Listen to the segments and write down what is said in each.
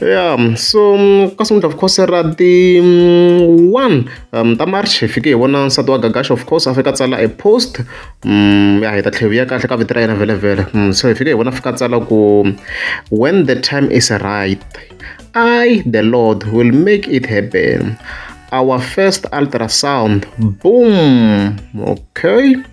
ya yeah, so ka sungula of course ra ti mm, one um, ta march hi fike hi vona nsati wa gagash of course a fika a tsala a post um, ya hi ta tlhevi ya kahle ka vito ra yena vhelevhele um, so hi fike hi vona fika a tsala ku when the time is right i the lord will make it happen our first ultrasound boom okay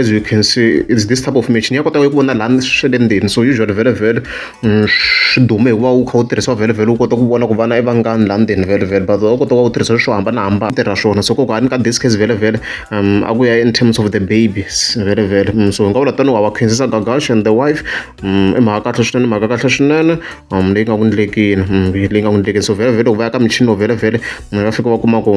as you can see it's this type of match ni ya kota ku vona lani swi le ndzeni so usually vhele vhele swi dume hi ku va wu kha wu tirhisiwa vhele vhele wu kota ku vona ku vana i vangani laha ndzeni vhele vhele but wa kota ku va wu tirhisa swo hambanahambana tirha swona so kokani ka this case vhele vhele um a ku ya in terms of the babies vhele vhele so hi nga vula tanihi wa va khensisa gagash and the wife um i mhaka kahle swinene mhaka kahle swinene um leyi nga ku ndlekini leyi nga ku ndlekini so vhele vhele loko va ya ka michini wo vhele vhele va fika va kuma ku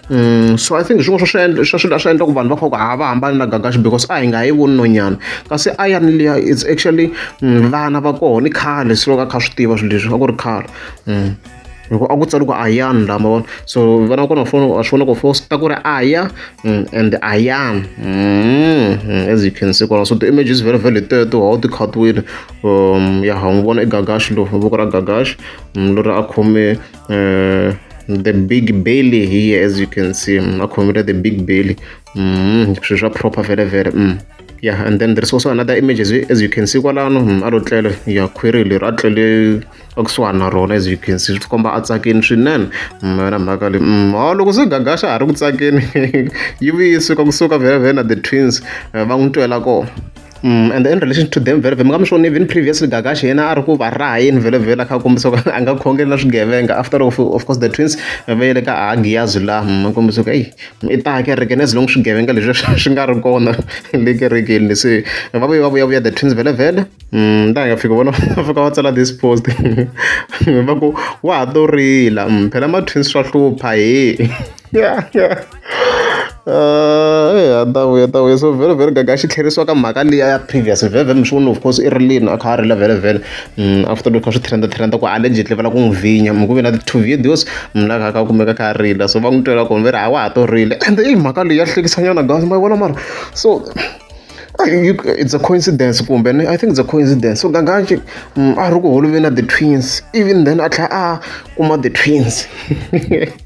Mm, so i think hi swin'wana swa swi swa swilo swi endla ku vanhu va kha ku ha va hambani na gagaxi because a hi nga yi voni nonyana kasi a ya ni liya it's actually mm, vana va kona i khale silo ka kha swi tiva swilo leswi a ku ri khale mm. loko a ku tsali ku ayan la ma vona so vana kona fona a swi vona ku fo ta ku ri aya and ayan as you can see kona so the image is very very teto how ti khatwile um ya ha n'wi vona i gagaxi lo voko ra gagaxi lori a khome uh, the big belly here as you can see mm, akhomera the big belly mm, swi swa proper vele vele mm. yeah and then there's also another image as you, as you can see kwalano mm, a lo tlele ya khwiri leri a tlele a kusuhani na rona as you can see swi komba a tsakeni swinene mm, yona mhaka leyi mm, oh, loko se gagaxa ha ri ku tsakeni yi vuye yi suka kusuka vele vele na the twins eh, va n'wi twela kona and in relation to them vhele vhele mi nga mi swona even previously Gagashi yena a ri ku va raha yini vhele vhele a kha a kombisa ku a nga khongeli na swigevenga after of, of course the twins va yele ka ahagiyazi laha mi kombisa ku eyi i ta kereke as long swigevenga leswi swi nga ri kona le kerekeni leswi va vuye va vuyavuya the twins vhele vhele ta nga fika vona va fika va tsala this post va ku wa ha to rila phela ma-twins swa hlupha he a ni ta vuya ni ta vuya so vhele gaga xi tlherisiwa ka mhaka liya ya previous vhele ni swi vona of course i ri leni a kha a rila vhele vhele after loko swi trend trend ku ale njhe va lava ku n'wi vhinya mi ku ve na ti-two videos mi la kha kha kumeka kha a rila so va n'wi twela kona va ri ha wa ha to rila ende i mhaka leyi ya hlekisanyana guys ma yi vona mara so it's a coincidence kumbe ni i think it's a coincidence so gagaxi a ri ku holoveni na the twins even then a tlhela a kuma the twins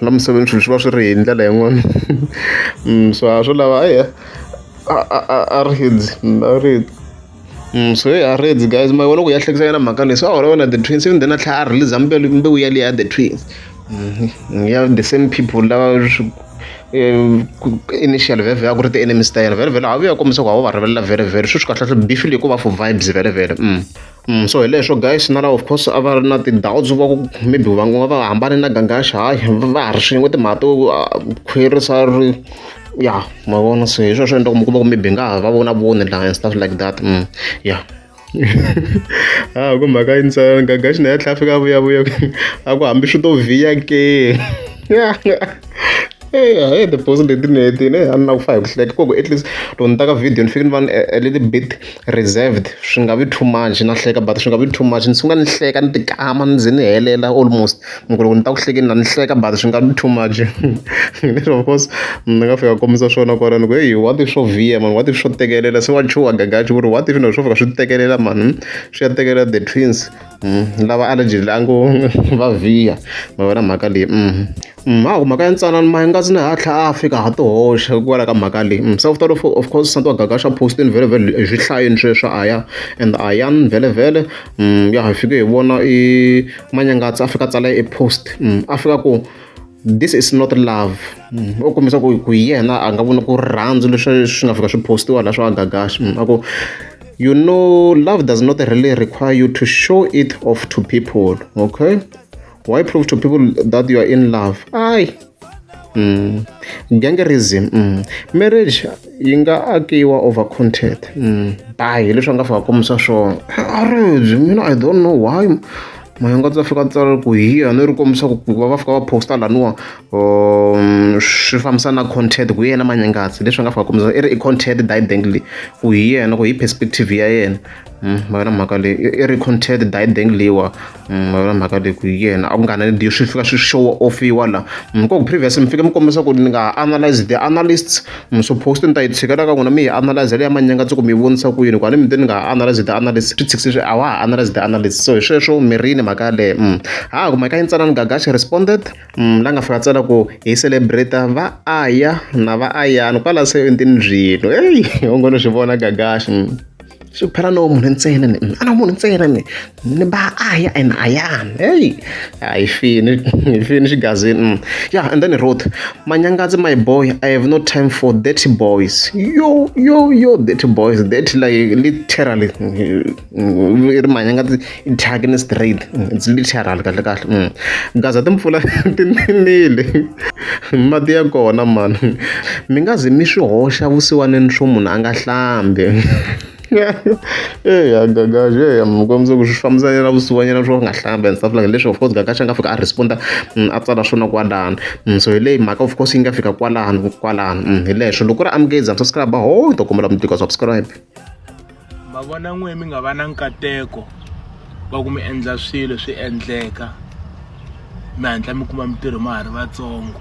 la misaveni swilo swi va swi ri hi ndlela yin'wani so a swo lava eya a a a a reds a red so heyi a reds guys ma vona ku ya hlekisa yena mhaka leyi so a holova na the twins ivi then a tlhela a release mbewu mbewu yaliya ya the twins ya the same people lava swi initial vhele vhele a ku ri ti-enemies ta yena vhele vhele a vuya kombisa ku a wu va rivelela vhele vhele sweswi kahlekahle beef leyi ko va for vibes vhele vhele . Mm, so hi leswo guys na lava of course a va ri na ti-doubts va ku maybe va nga va hambane na gangaxa hayi va ha ri swin'we timhaka to ah, khwerisa ri ya ma vona se hi sweswo endla ku mi kuma ku maybe nga ha va vona voni la and stuff like that mm, ya ha ku mhaka yi ntsana gangaxi na ya tlhela fika vuyavuya a ku hambi swi to vhiya ke eya heyi the boss leti ni hetile a ni lava ku fa hi ku hleka ku at least loko ni ta ka video ni fike ni va ni a little bit reserved swi nga vi too much na hleka but swi nga vi too much ni sungula ni hleka ni tikama ni ze ni helela almost hi ku loko ni ta ku hlekeni la ni hleka but swi nga vi too much of course ni nga fika kombisa swona kwalano ku heyi what if swo vhiya mani what if swo tekelela se wa chuha gagaxi ku ri what if na swo fika swi tekelela mani swi ya tekelela the twins lava allegedly a ngo va vhiya ma vona mhaka leyi . Mhangu mhaka ya ntsanana Mhangakazi na ha tlha a fika ha ti hoxa hikwalaho ka mhaka leyi se u ta loko of course nsati wa Gagasha post-ini vhelovhelo hi swi hlayini sweswo a ya and a ya ni vhelovhele ya hi fike hi vona i Manyangatsa a fika a tsala e post a fika ku this is not love u kombisa ku ku yena a nga voni ku rirhandzu leswi swi nga fika swi postiwa la swa Gagasha a ku you know love does not really require you to show it off to people okay why prove to people that you are in love ai mm. gangerism mm. marriage yi nga akiwa over content mm. by hileswi a nga fika kombisa swona arage mina i don't know why mayonga ndza fika tsala ku hiya ni ri kombisa ku va va fika va posta laniwa um, swi fambisa na content ku yena manyangatsi leswi nga fika kombisa i ri i content didengly ku hi yena ku hi perspective ya yena ma vona mhaka leyi i ri content die dengliwa ma vona mhaka leyi ku yena a ku nga na leyi swi fika swi show offiwa la ko ku previous mi fike mi kombisa ku ni nga analyze the analysts mi swo post ni ta yi tshikela ka n'wina mi yi analyze leya manyanga tsi ku mi vonisa ku yini ku a ni mi te ni nga analyze the analysts swi tshikisi swi a wa ha analyze the analysts so hi sweswo mirini mhaka yaleyo um ha ku mhaka yi ntsana ni gagashi responded um la nga fika tsala ku hi celebrate va aya na va ayani kwala se entini byilo eyi ongo no swi vona gagashi swi phela no munhu ntsena ni a no munhu ntsena ni ni ba a ya and a yan hey hayi fini fini xigazini mm. yeah and then wrote manyangazi my boy i have no time for dirty boys yo yo yo dirty boys dirty like literally mm, mm, ri manyangazi Thyakini straight it's literal kahle kahle mm. Gaza timpfula ti ninile mati ya kona mani mi nga ze mi swi hoxa vusiwaneni swo munhu a nga hlambi eya eh, gagaxi eya eh, mikombisa ku swi fambisanela vusiwanyana swo nga hlamba and stuff like leswi of course gagaxi a nga fika a responda mm, a tsala swona kwalano mm, so hi leyi mhaka of course yi nga fika kwalano kwalano mm, hi leswo loko ri amukeza subscribe ho hi ta kombela mi tika subscribe ma vona n'we mi nga va na nkateko wa ku mi endla swilo swi endleka mi hatla mi kuma mintirho ma ha ri vatsongo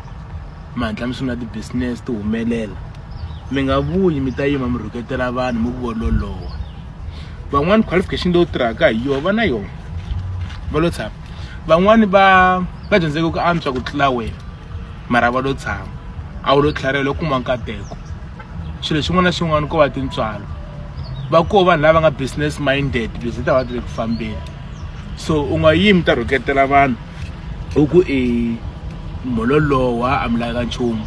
mi hatla mi sungula ti-business ti humelela mi nga vuyi mi ta yima mi rhuketela vanhu mi ku vololowa van'wani qualification leyi u tirhaka hi yona va na yona va lo tshama van'wani va va dyondzeke ku antswa ku tlula wena mara va lo tshama a wu lo tlharihela u kuma nkateko xilo xin'wana na xin'wana ko va tintswalo va ko vanhu lava nga business minded because ta va ti le ku fambeni so u nga yimi ta rhuketela vanhu u ku i mhololowa a mi laka nchumu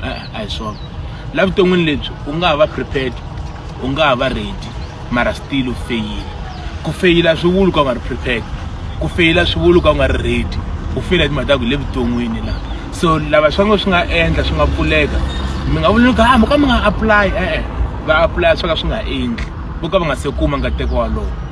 a hi swona la vuton'wini lebyi u nga ha va prepared u nga ha va ready mara still u feyile ku feyila swi vuli ka u nga ri prepared ku feyila swi vuli ka u nga ri ready u feyila timhaka ta ku le vuton'wini la so lava swa ngo swi nga endla swi nga pfuleka mi nga vuli loko ha mi ka mi nga apply e-e va apply swo ka swi nga endli vo ka va nga se kuma nkateko walowo